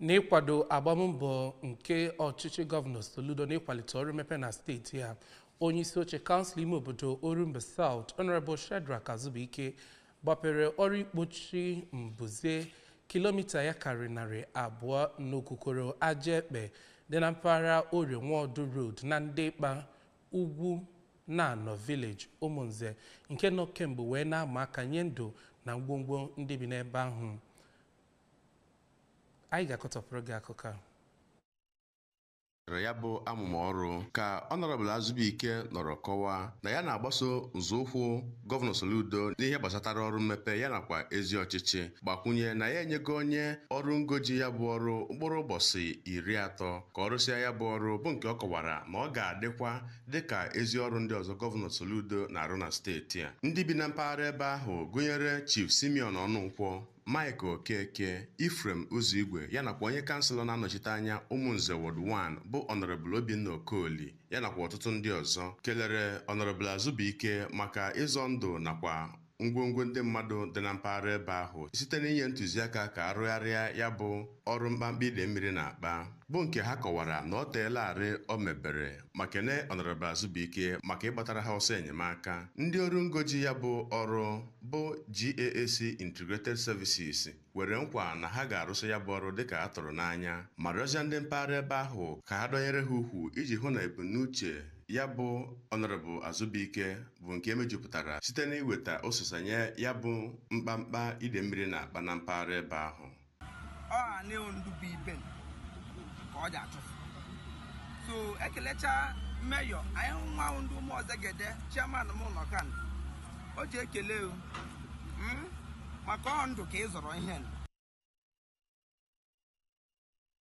n'ịkwado agbammbọ nke ọchịchị gọvanọ Soludo n'ịkwalite ọrụ mmepe na steeti a onye isi oche kansụl ime obodo Orumba South Honorable Shedrack Azubuike gbapere ọrụ ikpochi mbuze kilomita ya karịrị narị abụọ n'okukoro aja ekpe dị na mpaghara Orie Nwaọdụ Road na Ndịkpa Ugwunano village Ụmụnze nke nọ kemgbe wee na-ama aka nye ndụ na ngwongwo ndị bi n'ebe ahụ anyị ga-akọtọpụrụ gị akụkọ ahụ rịọrọ ya bụ amụma ọrụ ka Honorable Azubuike nọrọ kọwaa na ya na-agbaso nzọụkwụ gọvanọ Soludo n'ihe gbasatara ọrụ mmepe ya nakwa ezi ọchịchị gbakwunye na ya enyego onye ọrụ ngo ji ya bụ ọrụ mkpụrụ ụbọchị iri atọ ka ọ rụsịa ya bụ ọrụ bụ nke ọ kọwara na ọ ga-adịkwa dịka ezi ọrụ ndị ọzọ gọvanọ Soludo na-arụ na steeti a ndị bi na mpaghara ebe ahụ gụnyere Chief Simeon Ọnụnkwọ Mike Okeke, Ephraim Uzoigwe ya nakwa onye kanselọ na-anọchite anya Umunze Ward One bụ Honourable Obinna Okoli ya nakwa ọtụtụ ndị ọzọ kelere Honourable Azubuike maka ịzọ ndụ nakwa ngwongwo ndị mmadụ dị na mpaghara ebe ahụ site n'inye ntụziaka ka a rụgharịa ya bụ ọrụ mkpamkpa ide mmiri na-akpa bụ nke ha kọwara na ọ teelarị o mebere. ma kene Honorable Azubuike maka ịgbatara ha ọsọ enyemaka ndị ọrụ ngo ji ya bụ ọrụ bụ GAAC Integrated Services kwere nkwa na ha ga-arụsị ya bụ ọrụ dịka a tụrụ n'anya ma rịọzịa ndị mpaghara ebe ahụ ka ha dọnyere ha ukwu iji hụ na ebumnuche ya bụ Honorable Azubuike bụ nke e mejupụtara site n'iweta ọsịsa nye ya bụ mkpamkpa ide mmiri na-akpa na mpaghara ebe ahụ ọ anị ndụ bụ ibe ka ọ ji achụfụ so ekelechaa mayor anyị hụ nwa ndụ ụmụ ọzọ gede chairman m ụlọ kan o ji ekele o maka ọ ndụ ka ị zọrọ ihe nụ.